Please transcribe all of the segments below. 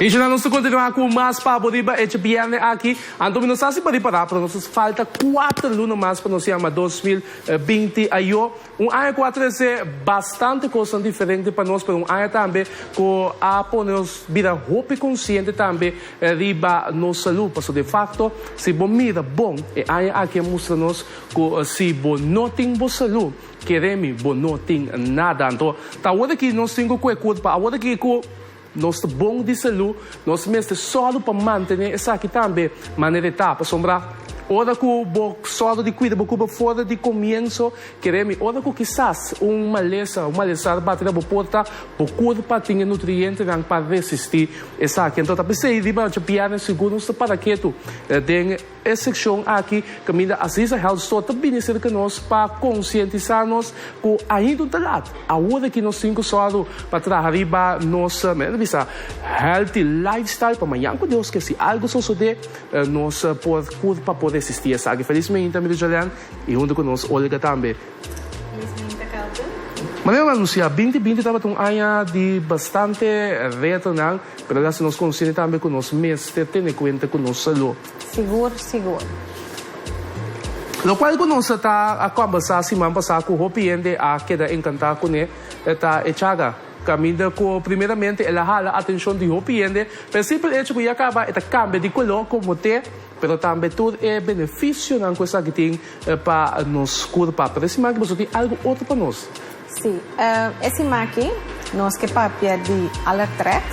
Y dje nan nos ta continua cu mas pa bo riba e djebierne aki. Anto mi no sa si pa ripara, pero nos falta cuater luna mas pa nos yama dos mil binti a yo. Un aña cu a trece bastante cosnan diferente pa nos, pero un aña tambe cu a pone nos bira hopi consciente tambe riba nos salud. Pasobra de facto si bo mira bon e aña aki a mustra nos. Cu si bo no tin bo salú, kere mi bo no tin nada. Anto, ta awor aki nos tin cu cu e curpa. Awor aki cu nos ta bon di salú, nos mester sòru pa mantené esaki tambe manera e ta. Pasobra ora cu bo sòru di cuida bo curpa for di comienso, kere mi, ora cu kisas un malesa, un malestar bati na bo porta, bo curpa tin e nutrientenan pa resistí esaki. Anto, ta p'esei riba djapiari sigur nos ta para ketu den. E sekshon aki, Kaminda Aziza Health Store ta bini serka nos pa konsientisá nos ku ainda ta lat, awor aki nos tin ku sòru pa traha riba nos, men ta bisa, healthy lifestyle pa mañan ku Dios ke si algu sosodé nos por kurpa por resistí esaki. Felismente Amigo Jolene i huntu ku nos Olga tambe. Manera nan a anunciá, binti binti tabata un aña di bastante retonan, pero el a haci nos consciente tambe cu nos mester tene cuenta cu nos salud. Sigur, sigur. Locual cu nos a ta a combersa siman pasá cu hopi hende a keda encantá cu ne, e ta e Chaga. Caminda cu primeramente el a hala atencion di hopi hende, p'e simpel hecho cu ya caba e ta cambia di color como te. pero tambe tur e beneficionan cu esaki tin pa nos curpa. Pero e siman aki boso tin algo otro pa nos. Sí, e siman aki nos ke papia di Alertrex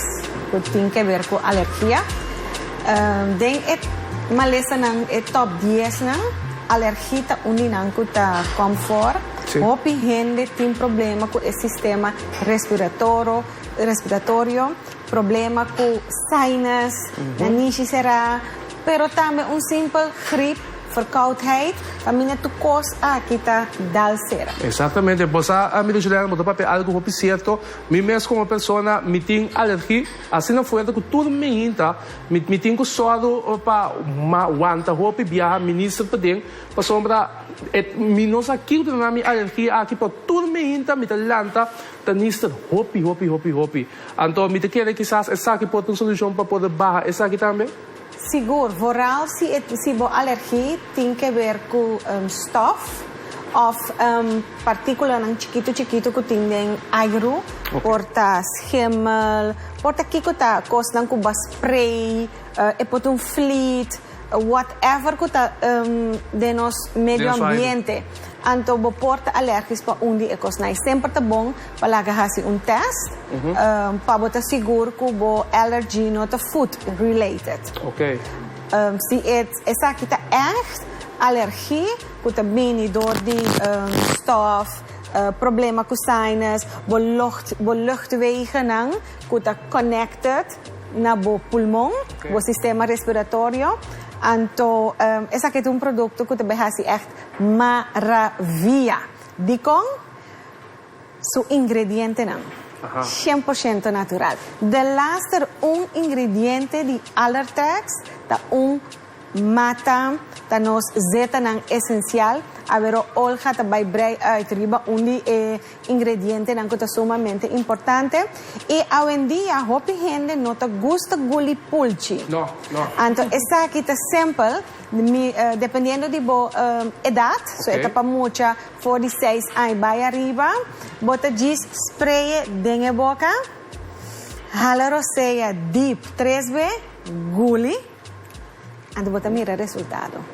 cu tin ke ber cu alergia. Den e malesanan, e top diesnan, alergi ta un di nan cu ta com for. Hopi hende tin problema cu e sistema respiratoro, respiratorio. Problema cu sinus, nanishi cerá, pero tambe un simpel griep, verkoudheid, pa mi na tu cos aki ta dal cera. Exactamente, bo sa ami ta juda bo ta papia algo hopi cierto, mi mes como persona mi tin alergie asina fuerte cu tur mi hinta mi mi tin cu soro pa ma wanta hopi biaha minister paden pasobra e mi no sa kico ta na mi alergie aki pero tur mi hinta mi ta lanta ta nister hopi hopi hopi hopi. Anto mi ta kere kisas esaki por ta un solucion pa poder baha esaki tambe? Sigur, vooral si bo alergie tin ke ber ku stof of partículanan chikitu chikitu ku tin den airu, por ta schimmel, por ta kiko ta kosnan ku ba spray, e por ta un vliet. Whatever cu ta den nos medio ambiente, anto bo por ta alergisch pa un di e cosnan. Semper ta bon pa laga haci un test pa bo ta sigur cu bo allergy no ta food related. Si esaki ta echt alergie cu ta bini door di stof, problema cu sinus, bo luchtwegennan. cu ta connected na bo pulmon, bo sistema respiratorio, anto esaki ta un producto cu ta bay haci echt maravia. Dicon? Su ingredientenan, cien por ciento natural. De laster un ingrediente di Alertex ta un. Mata ta nos zetanan esencial. Awero Olga ta bai brei uit riba un di e ingredientenan cu ta sumamente importante. Y awendia hopi hende no ta gusta guli pulchi. Anto esaki ta sempel, dependiendo di bo edad, so e ta pa mucha for di seis aña bai ariba, bo ta djis spreye den e boca, hala rosea diep tres be, guli. Anto bo ta mira resultado.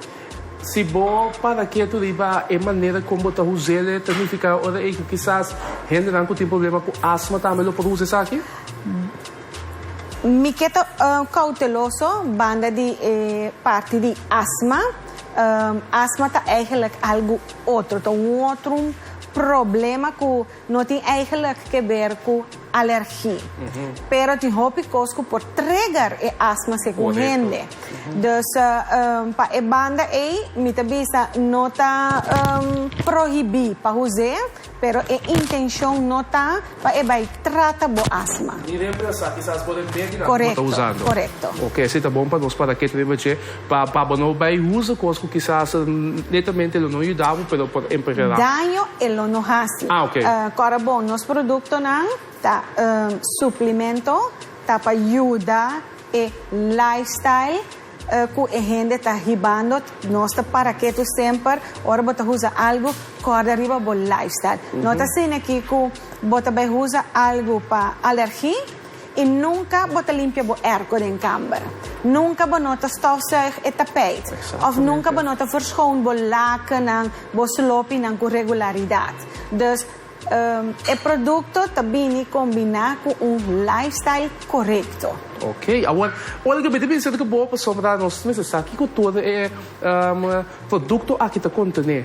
Si bo para ketu riba e manera kon bo ta huz'el e ta nifiká ora ei ku kisas hendenan ku tin problema ku asma tambe lo por huza esaki? Mi ke ta kouteloso banda di e parti di asma. Asma ta eigenlijk algu otro, ta un otro problema ku No tin eigenlijk ke ber ku alergi, pero tin hopi kos ku por trigger e asma segun hende. Dus pa e banda ei mi ta bisa no ta prohibí pa huz'é, pero e intenshon no ta pa e bai trata bo asma. Ni remplasa, kisas bo remedi nan. Korekto, korekto. Oke, esei ta bon pa nos para ke ta biba dje. Pa bo no bay usa cos cu kisas netamente lo no yuda bo pero por emperera. Daño e lo no haci. Ah ok. Cora bon, nos productonan ta suplemento ta pa yuda e lifestyle cu e hende ta hibando. Nos ta para ketu semper ora bo ta usa algo corda riba bo lifestyle. No ta sina aki cu bo ta bay usa algo pa alergi. I nunka bo ta limpia bo erko den kamber. Nunka bo no ta stofzuig e tapijt òf nunka bo no ta verschoon bo lakennan, bo slopinan ku regularidat. Dus, e produkto ta bini kombiná ku un lifestyle korekto. Oké, awor ora ke mi ta binsita ku bo, pasobra nos mester sa kiko tur e produkto aki ta kontené.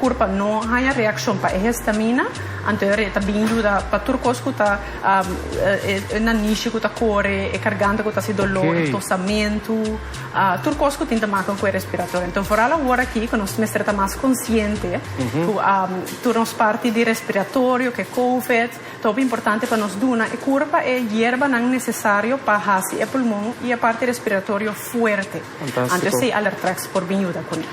Kurpa no haña reakshon pa e hestamina, anto e re ta bin yuda pa tur kos ku ta e nanishi ku ta kore, e karganta ku ta hasi doló, e tosamentu, tur kos ku tin ta make ku e respiratorio. Anto foral awor aki ku nos mester ta mas konsiente ku tur nos parti di respiratorio, ku e Covid, ta hopi importante pa nos duna e kurpa e yerbanan nesesario pa hasi e pulmon i e parti respiratorio fuerte. Antes si Alertrex por bin yuda cu ne.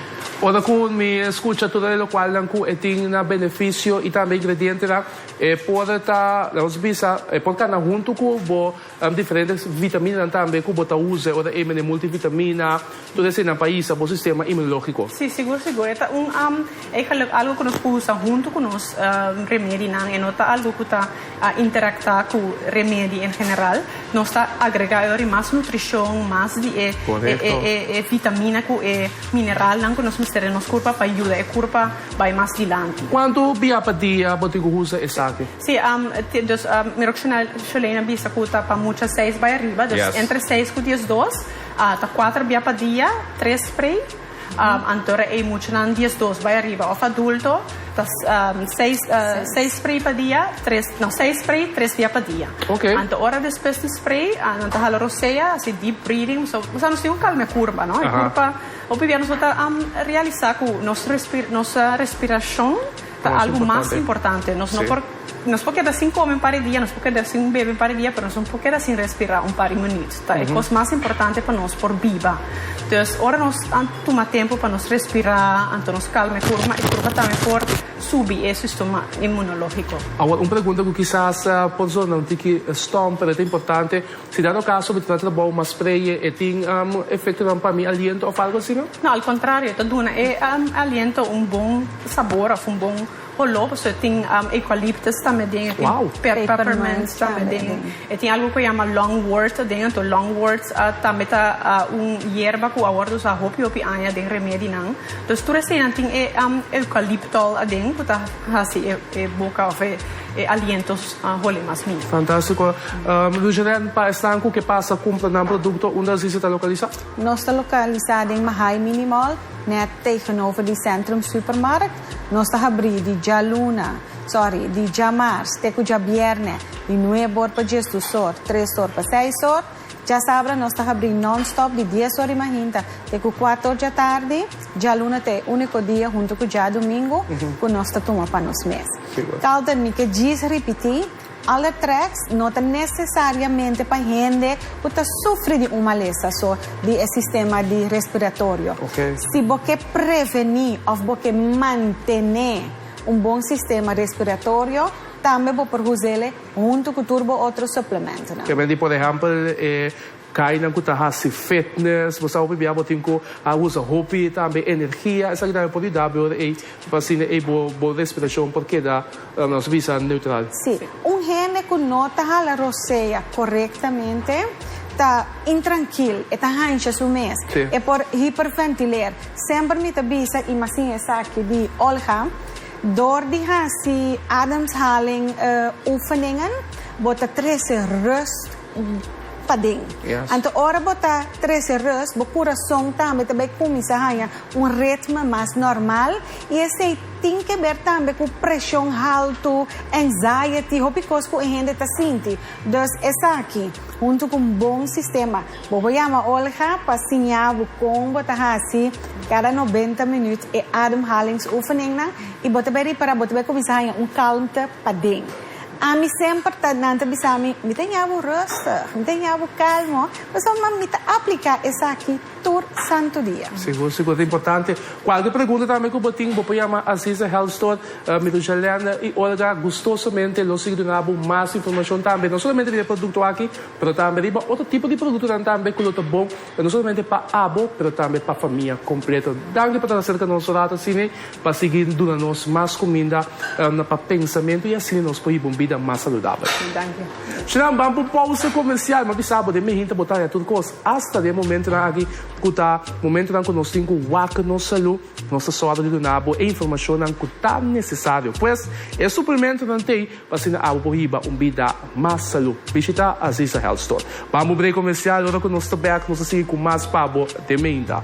Ora cu mi escucha tur e locualnan cu e tin na beneficio y tambe ingredientenan, e por ta, laga nos bisa, e por cana hunto cu bo diferente vitaminanan tambe cu bo ta uza e ora ey menen multivitamina, tur eseynan pa hisa bo sistema inmunologico. Si, sigur, sigur. E ta un. E geluk algo ku nos por usa huntu ku nos remedinan. E no ta algo ku ta interaktá ku remedi en general. Nos ta agregá e ora di mas nutrishon, mas di e e vitamina ku e mineralnan ku nos mester den nos kurpa pa yuda e kurpa bai mas dilanti. Kuantu bia pa dia bo tin ku usa esaki? Sí, dus mi Roxana Sholén a bisa ku ta pa mucha seis bai ariba. Dus entre seis ku dies dos ta kuater bia pa dia, tres spray. Anto ra ei muchanan diesdos bai ariba of adulto ta seis seis spray pa dia tres no seis spray tres dia pa dia okay anto ora despues di spray nan ta hala rosea hasi deep breathing so nos nos tin un kalme kurpa no e kurpa hopi bia nos ta realisa ku nos respir nos respirashon Ta algu mas importante. Nos no por, nos por keda sin kome un par di dia, nos por keda sin un bebe un par di dia, pero nos no por keda sin respira un par di minuut. Ta e kos mas importante pa nos por biba. Dus ora nos a tuma tempu pa nos respira, anto nos kalma e kurpa, e kurpa tambe por subi e sistema inmunologiko. Awor un pregunta ku kisas por zona un tiki stom, pero ta importante. Si dado caso mi ta na trabao mas preye e tin efectonan pa mi aliento of algo asina? No, al contrario e ta duna e aliento un bon sabor of un bon olor, pasobra e tin eucalyptus ta aden, e tin peppermint ta aden, e tin algo cu a yama longwort aden, anto longwort tambe ta un yerba cu awor ta usa hopi hopi aña den remedinan, entonces tur eseinan tin e eucalyptol aden cu ta haci e boca of e aliento A holi mas mi. Fantástiko. Rugerin, pa esnan ku ke pasa kumpra nan produkto, unda Zizi ta lokalisá? Nos ta lokalisá den Mahae Mini Mall, nèt tegenover di Centrum Supermarkt. Nos ta habrí di djaluna, sòri, di djamars te ku djabièrnè, di nueb òr pa djestus òr, tres òr pa seis òr. Djasabra nos ta habrí non-stop di dies ora di mahinta te ku kuater ora djatardi. Djaluna ta e úniko dia, huntu ku djadumingu, ku nos ta tuma pa nos mes. Carlton, mi ke djis ripití, Alle Tracks no ta nesesariamente pa hende ku ta sufri di un malesa so di e sistema di respiratorio. Si bo ke prevení òf bo ke mantené un bon sistema respiratorio, tambe bo por huz'el e. Huntu ku tur bo otro suplementonan. Kende di por ehèmpel e kainan ku ta hasi fitness. Bo sab'e pibia bo tin ku a usa hopi tambe energia. Esaki tambe por yuda bo ora ei pa asina ei bo bo respirashon por keda nos bisa neutral. Sí. Un hende ku no ta hala rosea korektamente ta intrankil. E ta hansha su mes. Sí. E por hiperventiler. Semper mi ta bisa i mas sin esaki di Olga Dor di hasi ademhaling oefeningen, bo ta trese rust paden. Anto ora bo ta trese rust, bo kurason tambe ta bai kuminsá haña un ritme mas normal i esei tin ke ber tambe ku preshon haltu, anxiety, hopi kos ku e hende ta sinti. Dus esaki huntu ku un bon sistema Bo por yama Olga pa siña bo kon bo ta hasi kada nobenta minüt e ademhalingsoefeningnan i bo ta bai riba bo ta bai kuminsá haña un kalmte paden. Ami semper ta nan ta bisa mi, Mi ta ña bo rùstig, mi ta ña bo kalmo, pasobra ma mi ta apliká esaki tur santu dia. Sigur, sigur ta importante. Kualke pregunta tambe ku bo tin bo por yama Aziza Health Store, Mirujalène i Olga gustosomente lo sigui duna bo mas informashon tambe, no solamente riba e produkto aki, Pero tambe riba otro tipo di produktonan tambe ku lo ta bon no solamente pa abo pero tambe pa famia kompleto. Danki pa ta na serka nos rato asini pa sigui duna nos mas kuminda pa pensamentu i asina nos por hiba un bida mas saludabel. Danki. Shinan ban pa un pousa komersial. M'a bisa bo den Medellin ta botaya tur kos asta den momentunan aki ku ta momentunan ku nos tin ku wak nos salú. Nos ta sòru di duna bo e informashonnan ku ta nesesario. Pues, e suplimentonan t'ei. Pa asina abo por hiba un bida mas salú, bishita Aziza Health Store. Bambo brei komersial, ora ku nos ta bèk nos ta sigui ku mas pa bo dementa.